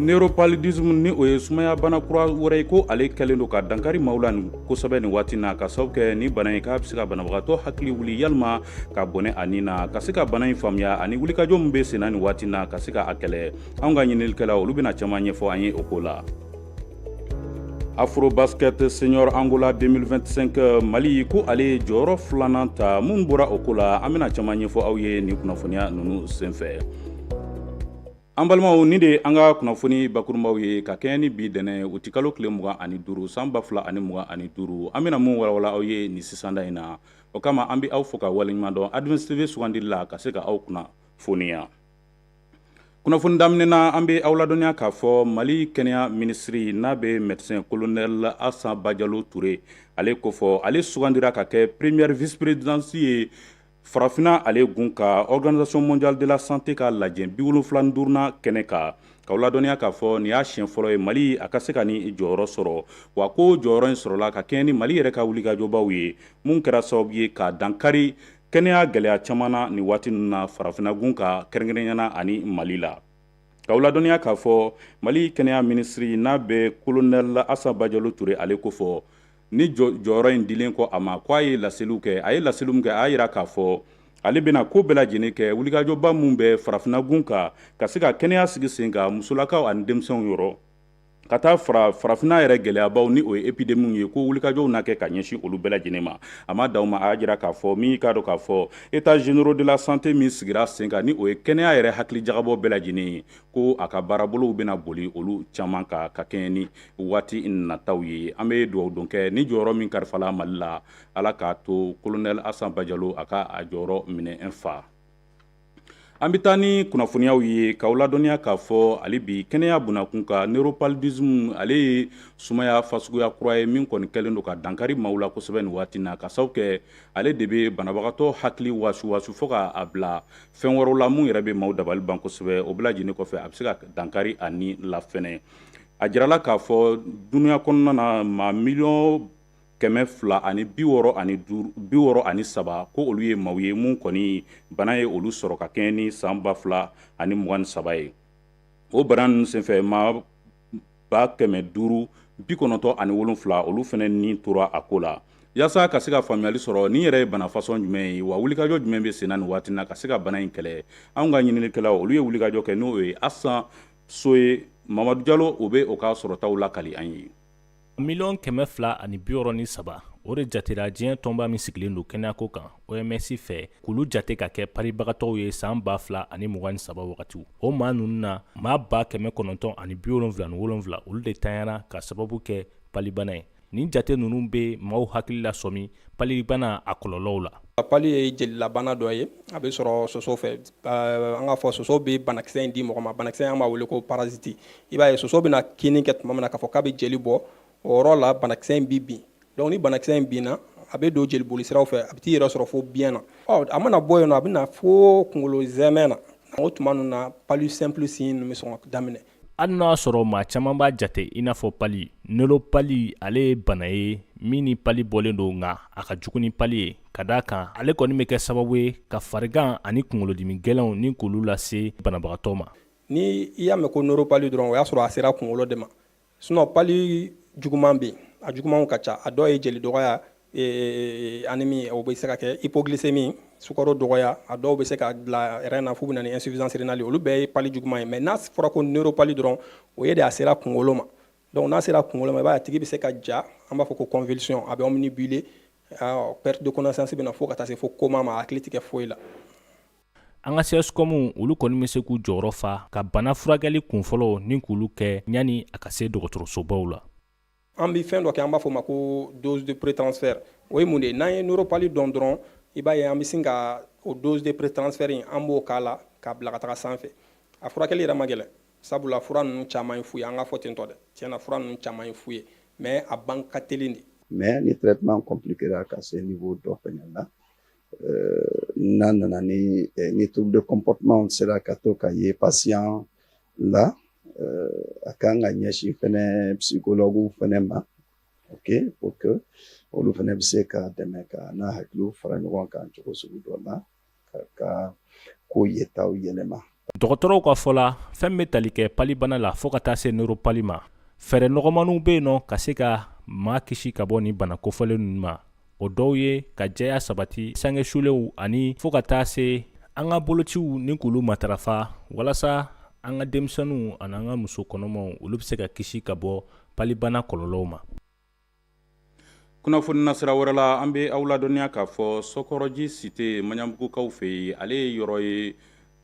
Neuropaludisme ni o ye sumayabana kura wɛrɛ ye ko ale kɛlen don ka dankari maaw la nin kosɛbɛ ni waati na k'a sababu kɛ ni bana in k'a bɛ se ka banabagatɔ hakili wuli yalima ka bɔnɛ a ni na ka se ka bana in faamuya ani wulikajɔ min bɛ senna nin waati na ka se ka a kɛlɛ anw ka ɲininikɛlaw olu bɛna caman ɲɛfɔ an ye o ko la afrobasket senior angola 2025 mali ko ale ye jɔyɔrɔ filanan ta min bɔra o ko la an bɛna caman ɲɛfɔ aw ye nin kunnafoniya ninnu senfɛ an balimaw nin de an ka kunnafoni bakurunbaw ye ka kɛɲɛ ni bi tɛnɛn uti kalo tile mugan ani duuru san ba fila ani mugan ani duuru an bɛna min walawala aw ye nin sisanda in na o kama an bɛ aw fo ka waleɲuman dɔn Advance TV sugandili la ka se ka aw kunnafoniya kunnafoni daminɛ na an bɛ aw ladɔnniya k'a fɔ mali kɛnɛya minisiri n'a bɛ médecin kolonɛli asa bajalo ture ale ko fɔ ale sugandira ka kɛ première vice-présidente ye farafinna ale gun ka organisation mondiale de la santé ka lajɛ bi wolonwula duurunan kɛnɛ kan k'aw ladɔnniya k'a fɔ nin y'a siɲɛ fɔlɔ ye mali a ka se ka nin jɔyɔrɔ sɔrɔ wa ko jɔyɔrɔ in sɔrɔla ka kɛɲɛ ni mali yɛrɛ ka wulikajɔbaw ye minnu kɛra sababu ye ka dankari kɛnɛya gɛlɛya caman na nin waati ninnu na farafinagun kan kɛrɛnkɛrɛnyana ani mali la k'aw ladɔnniya k'a fɔ mali kɛnɛya minisiri n'a bɛ kolonɛli asa bajalo ture ale ko fɔ ni jɔyɔrɔ in dilen kɔ a ma k' a ye laseliw kɛ a ye laseliw min kɛ a y'a jira k'a fɔ ale bɛna ko bɛɛ lajɛlen kɛ wulikajɔba minnu bɛ farafinagun kan ka se ka kɛnɛya sigi sen kan musolakaw ani denmisɛnw yɔrɔ ka taa farafinna yɛrɛ gɛlɛyabaw ni o ye epidemiw ye ko wulikajɔw na kɛ ka ɲɛsin olu bɛɛ lajɛlen ma a ma daw ma a y'a jira k'a fɔ min i k'a dɔn k'a fɔ états généraux de la santé min sigira sen kan ni o ye kɛnɛya yɛrɛ hakilijagabɔ bɛɛ lajɛlen ye ko a ka baarabolow bɛna boli olu caman kan ka kɛɲɛ ni waati nataw ye an bɛ dugawu don kɛ ni jɔyɔrɔ min kalifala mali la ala k'a to kolonɛli asa bajalo a ka a jɔyɔrɔ minɛ fa An bɛ taa ni kunnafoniyaw ye k'aw ladɔnniya k'a fɔ hali bi kɛnɛya bunakun kan neuropaludisme ale ye sumaya fasuguya kura ye min kɔni kɛlen don ka dankari maaw la kosɛbɛ nin waati na k'a sababu kɛ ale de bɛ banabagatɔ hakili wasuwasu fo k'a bila fɛn wɛrɛw la minnu yɛrɛ bɛ maaw dabali ban kosɛbɛ o bɛɛ lajɛlen kɔfɛ a bɛ se ka dankari a ni la fɛnɛ a jirala k'a fɔ duniya kɔnɔna na maa mi kɛmɛ fila ani bi wɔɔrɔ ani saba ko olu ye maaw ye minnu kɔni bana ye olu sɔrɔ ka kɛɲɛ ni san ba fila ani mugan ni saba ye o bana ninnu senfɛ maa ba kɛmɛ duuru bi kɔnɔntɔn ani wolonwula olu fɛnɛ ni tora a ko la yaasa ka se ka faamuyali sɔrɔ nin yɛrɛ ye bana fasɔn jumɛn ye wa wulikajɔ jumɛn bɛ senna nin waati na ka se ka bana in kɛlɛ anw ka ɲininikɛlaw olu ye wulikajɔ kɛ n'o ye asan so ye mamadu jalo u bɛ u ka sɔrɔtaw lakali an ye Miliyɔn kɛmɛ fila ani bi wɔɔrɔ ni saba o de jatera diɲɛ tɔnba min sigilen don kɛnɛyako kan OMS fɛ k'olu jate ka kɛ palibagatɔw ye san ba fila ani mugan ni saba wagati o maa ninnu na maa ba kɛmɛ kɔnɔntɔn ani bi wolonwula ni wolonwula olu de tanyana k'a sababu kɛ palibana ye nin jate ninnu bɛ maaw hakili la sɔmi palibana a kɔlɔlɔw la pali ye jelilabana dɔ ye a bɛ sɔrɔ soso fɛ an k'a fɔ soso bɛ banakisɛ in di mɔgɔ ma banakisɛ an b'a wele ko parasite i b'a ye soso bɛna kinni kɛ tuma min na k'a fɔ k'a bɛ jeli bɔ o yɔrɔ la banakisɛ in bɛ bin donc ni banakisɛ in binna a bɛ don jeliboli siraw fɛ a bɛ t'i yɛrɛ sɔrɔ fo biyɛn na ɔ a mana bɔ yen nɔ a bɛ na fo kungolo zɛmɛ na o tuma ninnu na pali simple signe ninnu bɛ sɔn ka daminɛ hali n'a sɔrɔ maa caman b'a jate i n'a fɔ pali neuropali ale ye bana ye min ni pali bɔlen don nka a ka jugu ni pali ye ka d'a kan ale kɔni bɛ kɛ sababu ye ka farigan ani kunkolodimi gɛlɛnw ni k'olu lase banabagatɔ ma ni i y'a mɛn ko neuropali dɔrɔn o y'a sɔrɔ a sera kunkolo de ma sinon pali juguman bɛ yen a jugumanw ka ca a dɔw ye jeli dɔgɔya anémie o bɛ se ka kɛ hypoglycémie sukaro dɔgɔya a dɔw bɛ se ka bila rein na f'u bɛ na ni insuffisance rénale olu bɛɛ ye pali juguman ye mais n'a fɔra ko neuropali dɔrɔn o ye de a sera kunkolo ma donc n'a sera kunkolo ma i b'a ye a tigi bɛ se ka ja an b'a fɔ ko convulsion a bɛ obnubilé perte de connaissance bɛ na fo ka taa se fo coma ma a hakili tɛ kɛ foyi la an ka CSCOM olu kɔni bɛ se k'u jɔyɔrɔ fa ka bana furakɛli kunfɔlɔw ni k'olu kɛ yanni a ka se dɔgɔtɔrɔsobaw la an bɛ fɛn dɔ kɛ an b'a fɔ ma ko dose de prétransfert o ye mun de ye n'an ye neuropali dɔn dɔrɔn i b'a ye an bɛ sin ka o dose de prétransfert in an b'o k'a la k'a bila ka taga sanfɛ a furakɛli yɛrɛ man gɛlɛn sabula fura ninnu caman ye fu ye an k'a fɔ ten tɔ dɛ tiɲɛ na fura ninnu caman ye fu ye mais a ban ka teli dɛ mais ni traitement compliquera ka se niveau dɔ fɛnɛ na n'a nana ni ni trouble de comportement sera ka to ka ye patient la a kan ka ɲɛsin fɛnɛ psychologue fɛnɛ ma ok pour que olu fɛnɛ bɛ se ka dɛmɛ ka n'a hakiliw fara ɲɔgɔn kan cogo sugu dɔ la ka ka ko yetaw yɛlɛma dɔgɔtɔrɔw ka fɔ la fɛn bɛ tali kɛ palibana la fɔɔ ka taa se neuropali ma fɛɛrɛ nɔgɔmaninw bɛ yen nɔ ka se ka maa kisi ka bɔ nin bana kofɔlen ninnu ma o dɔw ye ka jɛya sabati sange sulenw ani fɔɔ ka taa se an ka bolociw ni k'olu matarafa walasa an ka denmisɛnninw ani an ka muso kɔnɔmaw olu bɛ se ka kisi ka bɔ palibana kɔlɔlɔw ma kunnafoni nasira wɛrɛ la an bɛ aw ladɔnniya k'a fɔ sɔkɔrɔji site maɲanbugukaw fɛ yen ale ye yɔrɔ ye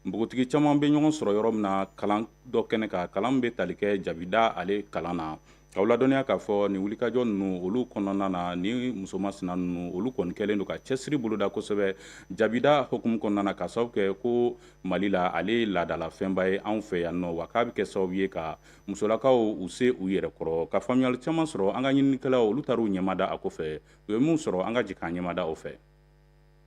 npogotigi caman bɛ ɲɔgɔn sɔrɔ yɔrɔ min na kalan dɔ kɛnɛ kan kalan bɛ tali kɛ jabida ale kalan na aw ladɔnniya k'a fɔ nin wulikajɔ ninnu olu kɔnɔna na ni musoman sina ninnu olu kɔni kɛlen don ka cɛsiri boloda kosɛbɛ jabida hukumu kɔnɔna na k'a sababu kɛ ko mali la ale ye laadala fɛnba ye anw fɛ yan nɔ wa k'a bɛ kɛ sababu ye ka musolakaw u se u yɛrɛ kɔrɔ ka faamuyali caman sɔrɔ an ka ɲininikɛlaw olu taara u ɲɛmada a kɔfɛ u ye min sɔrɔ an ka jɛ k'an ɲɛmada o fɛ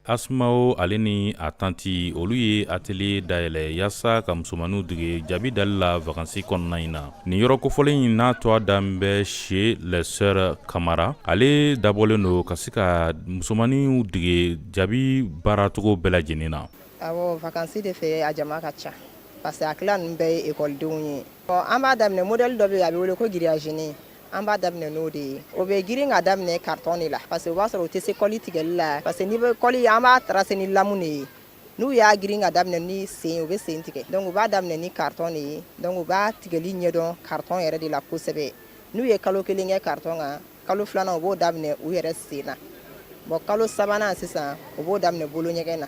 asimao ale ni a tanti olu ye atelier dayɛlɛ yaasa ka musomanninw dege jabi dali la vakansi kɔnɔna in na nin yɔrɔ kofɔlen in n'a tɔgɔ dan bɛ chez les sœurs kamara ale dabɔlen don ka se ka musomanninw dege jabi baaracogo bɛɛ lajɛlen na awɔ vakansi de fɛ a jama ka ca Parce que a kɛla ninnu bɛɛ ye ekɔlidenw ye an b'a daminɛ modèle dɔ bɛ yen a bɛ wele ko grillagenin an b'a daminɛ n'o de ye o bɛ girin ka daminɛ carton de la parce que o b'a sɔrɔ u tɛ se kɔli tigɛli la parce que n' bɛ kɔli an b'a tracer ni lamu de ye n'u y'a girin ka daminɛ ni sen u bɛ sen tigɛ donc u b'a daminɛ ni carton de ye donc u b'a tigɛli ɲɛdɔn carton yɛrɛ de la kosɛbɛ n'u ye kalo kelen kɛ carton kan kalo filanan u b'o daminɛ u yɛrɛ sen na bon kalo sabanan sisan u b'o daminɛ bolo ɲɛgɛn na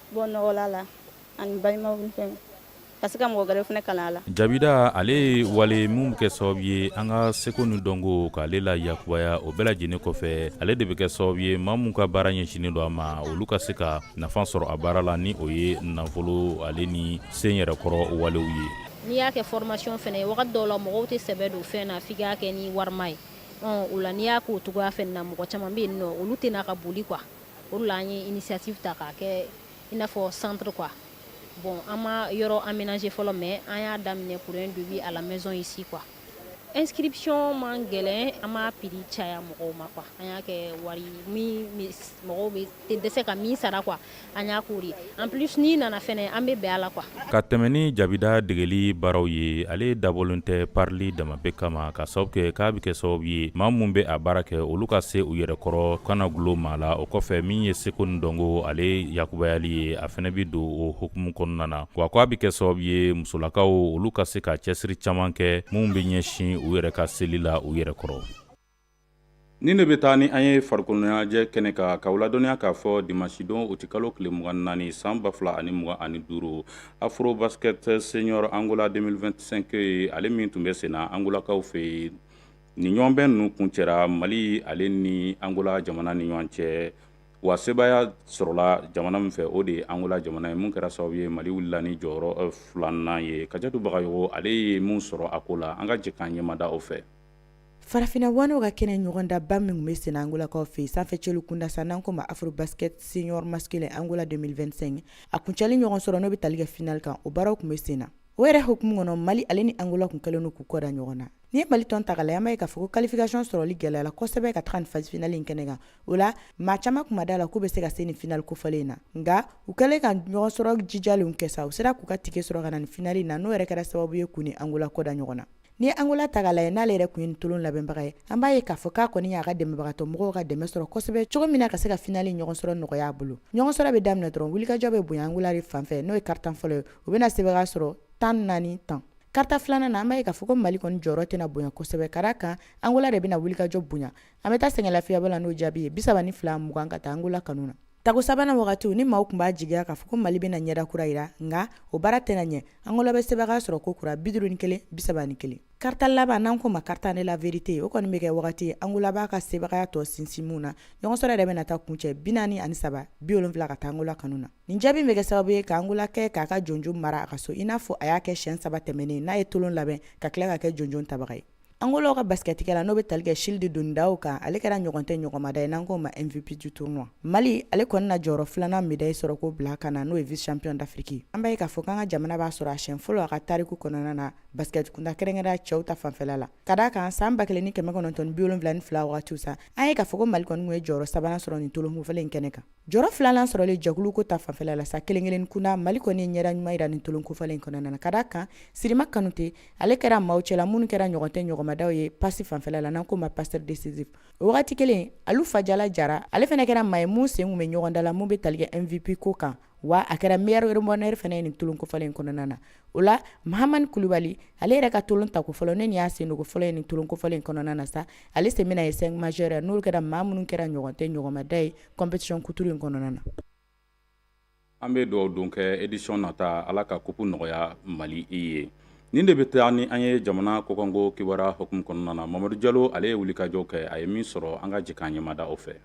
Bɔ nɔgɔla la ani balimaw ka se ka mɔgɔ wɛrɛ fana kalan a la jabida ale ye wale minnu bɛ kɛ sababu ye an ka seko ni dɔnko k'ale la yakubaya o bɛɛ lajɛlen kɔfɛ ale de bɛ kɛ sababu ye maa min ka baara ɲɛsinnen don a ma olu ka se ka nafa sɔrɔ a baara la ni o ye nafolo ale ni sen yɛrɛkɔrɔ walew ye n'i y'a kɛ formation fana ye wagati dɔw la mɔgɔw tɛ sɛbɛ don fɛn na f'i k'a kɛ ni wari ye o la n'i y'a k'o cogoya fɛnɛ na mɔgɔ caman bɛ yen n'olu tɛ na ka boli quoi O la an ye initiative ta k'a kɛ i n'a fɔ centre quoi bon an ma yɔrɔ aménager fɔlɔ mais an y'a daminɛ pour un début à la maison ici quoi inscription man gɛlɛn an m'a prix caya mɔgɔw ma quoi an y'a kɛ wari min mɔgɔw bɛɛ tɛ dɛsɛ ka min sara quoi an y'a k'o de ye en plus n'i nana fana an bɛ bɛn a la quoi ka tɛmɛn ni jabida degeli baaraw ye ale dabɔlen tɛ parili dama bɛɛ kama k'a sababu kɛ k'a bɛ kɛ sababu ye maa minnu bɛ a baara kɛ olu ka se u yɛrɛ kɔrɔ kana gulo maa la o kɔfɛ min ye seko ni dɔnko ale yakubayali ye a fana bɛ don o hukumu kɔnɔna na wa ko a bɛ kɛ sababu ye musolakaw olu ka se ka cɛsiri caman kɛ minnu bɛ ɲɛsin u yɛrɛ ka seli la u yɛrɛ kɔrɔ Nin de bɛ taa ni an ye farikoloɲɛnajɛ kɛnɛ kan k'aw ladɔnniya k'a fɔ dimasidon utikalo tile mugan ni naani san ba fila ani mugan ani duuru afrobasket senior angola deux mille vingt-cinq ye ale min tun bɛ sen na angolakaw fɛ yen nin ɲɔgɔnbɛn ninnu kuncɛra mali ale ni angola jamana ni ɲɔgɔn cɛ wa sebaaya sɔrɔla jamana min fɛ o de ye angola jamana ye min kɛra sababu ye mali wulila ni jɔyɔrɔ filanan ye kajatu bagayogo ale ye min sɔrɔ a ko la an ka jɛ k'an ɲɛmada o fɛ Farafinna ŋanaw ka kɛnɛ ɲɔgɔndanba min tun bɛ sen na angolakaw fɛ sanfɛcelu kunda sa n'an ko ma afrobasket senior masculin angola deux mille vingt-cinq a kuncɛli ɲɔgɔn sɔrɔ n'o bɛ tali kɛ finali kan o baaraw tun bɛ sen na o yɛrɛ hukumu kɔnɔ mali ale ni angola kun kɛlen don k'u kɔda ɲɔgɔn na n'i ye mali tɔn ta k'a lajɛ an b'a ye k'a fɔ ko qualification sɔrɔli gɛlɛyala kosɛbɛ ka taa ni phase finale in kɛnɛ kan o la maa caman tun ma da a la k'u bɛ se ka se ni finali kofɔlen in na nka u kɛlen ka ɲɔgɔn sɔrɔ jijalenw kɛ sa u sera k'u ka tikɛ sɔrɔ ka na ni finali in na n'o yɛrɛ kɛra sababu ye k'u ni angola kɔda ɲɔgɔn na N'i ye Angola ta k'a lajɛ n'ale yɛrɛ kun ye nin tolon labɛnbaga ye, an b'a ye k'a fɔ k'a kɔni y'a ka dɛmɛbagatɔ mɔgɔw ka dɛmɛ sɔrɔ kosɛbɛ cogo min na ka se ka finali ɲɔgɔnsɔrɔ nɔgɔya a bolo. Ɲɔgɔnsɔrɔ bɛ daminɛ dɔrɔn, wulikajɔ bɛ bonya Angola de fan fɛ, n'o ye karitan fɔlɔ ye, u bɛna sebagaya sɔrɔ tan ni naani tan. Karita filanan na, an b'a ye k'a fɔ ko Mali kɔni jɔyɔrɔ tɛna bonya kosɛbɛ, ka d'a kan Angola de bɛna wulikajɔ bonya. An bɛ taa sɛgɛnlafiyabɔ la n'o jaabi ye, 32 mugan ka taa Angola kanu na. Tako sabanan wagatiw ni maaw kun b'a jigiya k'a fɔ ko mali bɛna ɲɛda kura yira nka o baara tɛna ɲɛ angola bɛ sebagaya sɔrɔ ko kura bi duuru ni kelen bi saba ni kelen karita laban n'an k'o ma quart-temps de la vérité o kɔni bɛ kɛ wagati ye angola b'a ka sebagaya tɔ sinsin min na ɲɔgɔnsɔrɔ yɛrɛ bɛna taa kuncɛ bi naani ani saba bi wolonfila ka taa angola kanu na nin jaabi bɛ kɛ sababu ye k'angola kɛ k'a ka jɔnjɔn mara a ka so i n'a fɔ a y'a kɛ siyɛn saba tɛmɛnen n'a ye tolon labɛn ka tila ka kɛ jɔnjɔn tabaga ye Angola ka basketikɛla n'o bɛ tali kɛ Childe Dundão kan ale kɛra ɲɔgɔn tɛ ɲɔgɔnmada ye n'an k'o ma MVP du tournoi mali ale kɔni na jɔyɔrɔ filanan medayi sɔrɔ k'o bila kan na n'o ye vice-champion d'Afrique an b'a ye k'a fɔ k'an ka jamana b'a sɔrɔ a siyɛn fɔlɔ a ka tariku kɔnɔna na baskɛtkunda kɛrɛnkɛrɛnya cɛw ta fanfɛla la ka d'a kan san ba kelen ni kɛmɛ kɔnɔntɔn ni bi wolonfila ni fila wagatiw sa an ye k'a fɔ ko mali kɔni kun ye jɔyɔrɔ sabanan sɔrɔ nin tolon kofɔlen in kɛnɛ kan Jɔyɔrɔ filanan sɔrɔlen jɛkulu ko ta fanfɛla la sa kelen-kelen kunna Mali kɔni ye ɲɛda ɲuman yira nin tolon kofɔlen in kɔnɔna na, ka d'a kan Sirima Kanute, ale kɛra maaw cɛla minnu kɛra ɲɔgɔn tɛ ɲɔgɔnmadaw ye passe fanfɛla la, n'an k'o ma passeur décisif. O wagati kelen, Alu Fajala Jara, ale fana kɛra maa ye min sen kun bɛ ɲɔgɔndan la, min bɛ tali kɛ MVP ko kan, wa a kɛra meilleur rebondeur fana ye nin tolon kofɔlen in kɔnɔna na. o la mahamani kulubali ale yɛrɛ ka tolon tako fɔlɔ ne nin y'a sendonko fɔlɔ ye nin tolon kofɔlen in kɔnɔna na sa ale sen bɛna ye cinq majeur ye n'olu kɛra maa minnu kɛra ɲɔgɔn tɛ ɲɔgɔnmada ye compétition kuturu in kɔnɔna na an bɛ dugawu don kɛ édition nata ala ka kupu nɔgɔya mali i ye nin de bɛ taa ni an ye jamana kɔkanko kibaruya hukumu kɔnɔna na mamadu jalo ale ye wulikajɔ kɛ a ye min sɔrɔ an ka jɛ k'an ɲɛmada o fɛ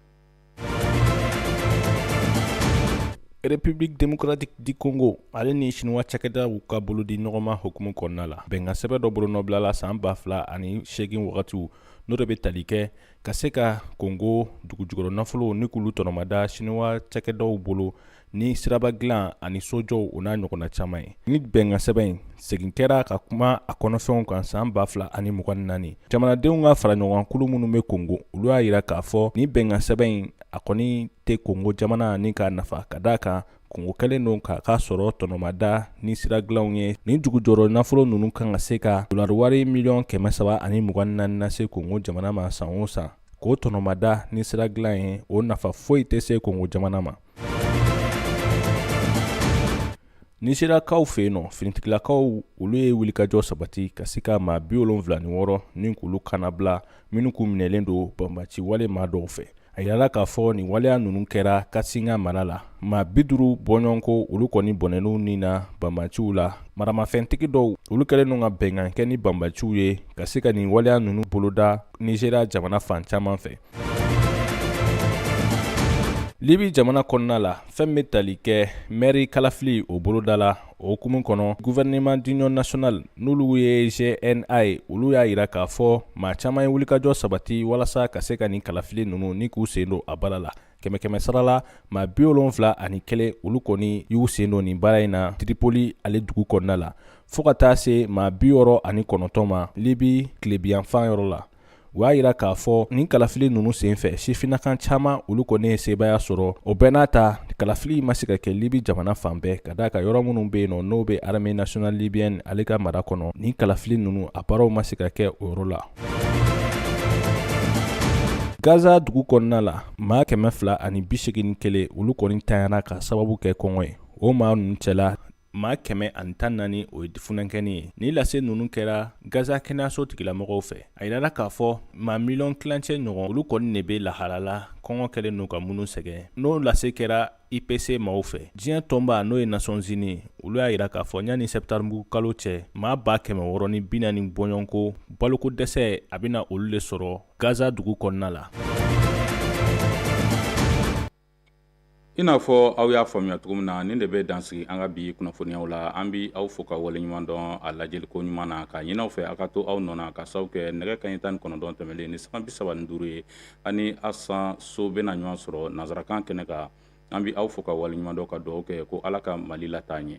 République démocratique du Congo ale ni Chinois cakɛdaw ka bolo di ɲɔgɔnma hukumu kɔnɔna la bɛnkan sɛbɛn dɔ bolonɔ bilala san ba fila ani seegin wagatiw n'o de bɛ tali kɛ ka se ka Congo dugujukɔrɔ nafolo ni k'olu tɔnɔmada Chinois cakɛdaw bolo ni siraba dilan ani sojɔw o n'a ɲɔgɔnna caman ye nin bɛnkan sɛbɛn in segin kɛra ka kuma a kɔnɔfɛnw kan san ba fila ani mugan ni naani jamanadenw ka fara ɲɔgɔnkulu minnu bɛ kongo olu y'a yira k'a fɔ nin bɛnkan sɛbɛn in a kɔni tɛ kongo jamana ni k'a nafa ka d'a kan kongo kɛlen don k'a ka sɔrɔ tɔnɔmada ni sira dilanw ye nin dugujɔrɔ nafolo ninnu kan ka se ka dolari wari miliyɔn kɛmɛ saba ani mugan ni naani lase kongo jamana ma san o san k'o tɔnɔmada ni sira dilan ye o nafa foyi tɛ se kongo jamana ma Nizeriyakaw fɛ yen nɔ finitigilakaw olu ye wulikajɔ sabati ka se ka maa bi wolonwula ni wɔɔrɔ ni k'olu kanabila minnu kun minɛlen don banbaanci wale maa dɔw fɛ a yirala k'a fɔ nin waleya ninnu kɛra katsina mara la maa bi duuru bɔɲɔgɔnko olu kɔni bɔnɛn'u ni na banbaanciw la maramafɛntigi dɔw olu kɛlen don ka bɛnkan kɛ ni banbaanciw ye ka se ka nin waleya ninnu boloda nizeriya jamana fan caman fɛ libi jamana kɔnɔna la fɛn bɛ tali kɛ mɛri kalafili o boloda la o hukumu kɔnɔ gouvernement d'union nationale n'olu ye gna ye olu y'a yira k'a fɔ maa caman ye wulikajɔ sabati walasa ka se ka nin kalafili nunu ni k'u sen don a baara la kɛmɛ kɛmɛ sara la maa bi wolonfila ani kelen olu kɔni y'u sen don nin baara in na tripoli ale dugu kɔnɔna la fɔɔ ka taa se maa bi wɔɔrɔ ani kɔnɔntɔn ma libi tilebiyanfan yɔrɔ la u y'a yira k'a fɔ nin kalafili ninnu sen fɛ sifinakan caman olu kɔni ye sebaaya sɔrɔ o bɛɛ n'a ta kalafili ma se ka kɛ libi jamana fan bɛɛ ka d'a kan yɔrɔ minnu be yen nɔ n'o be armée nationale libyenne ale ka mara kɔnɔ nin kalafili ninnu a baaraw ma se ka kɛ o yɔrɔ la gaza dugu kɔnɔna la maa kɛmɛ fila ani bi segin ni kelen olu kɔni ntanyana k'a sababu kɛ kɔngɔ ye o maa ninnu cɛla maa kɛmɛ ani tan naani o ye funankɛni ye nin lase ninnu kɛra gaza kɛnɛyaso tigilamɔgɔw fɛ a yirala k'a fɔ maa miliyɔn kilancɛ ɲɔgɔn olu kɔni ne be lahala la kɔngɔ kɛlen n'u ka minnu sɛgɛn n'o lase kɛra ipc maaw fɛ diɲɛ tɔnba n'o ye nations unies olu y'a yira k'a fɔ yanni septembre kalo cɛ maa ba kɛmɛ wɔɔrɔ ni bi naani bɔɲɔgɔnko baloko dɛsɛ a bɛna olu le sɔrɔ gaza dugu kɔnɔna la i n'a fɔ aw y'a faamuya cogo min na nin de bɛ dan sigi an ka bi kunnafoniyaw la an bɛ aw fo ka wale ɲuman dɔn a lajɛli ko ɲuman na k'a ɲini aw fɛ aw ka to aw nɔ na k'a sababu kɛ nɛgɛ kanɲɛ tan ni kɔnɔntɔn tɛmɛnlen ni sanga bi saba ni duuru ye ani asan so bɛna ɲɔgɔn sɔrɔ nansarakan kɛnɛ kan an bɛ aw fo ka wale ɲuman dɔn ka dugaw kɛ ko ala ka mali lataa ɲɛ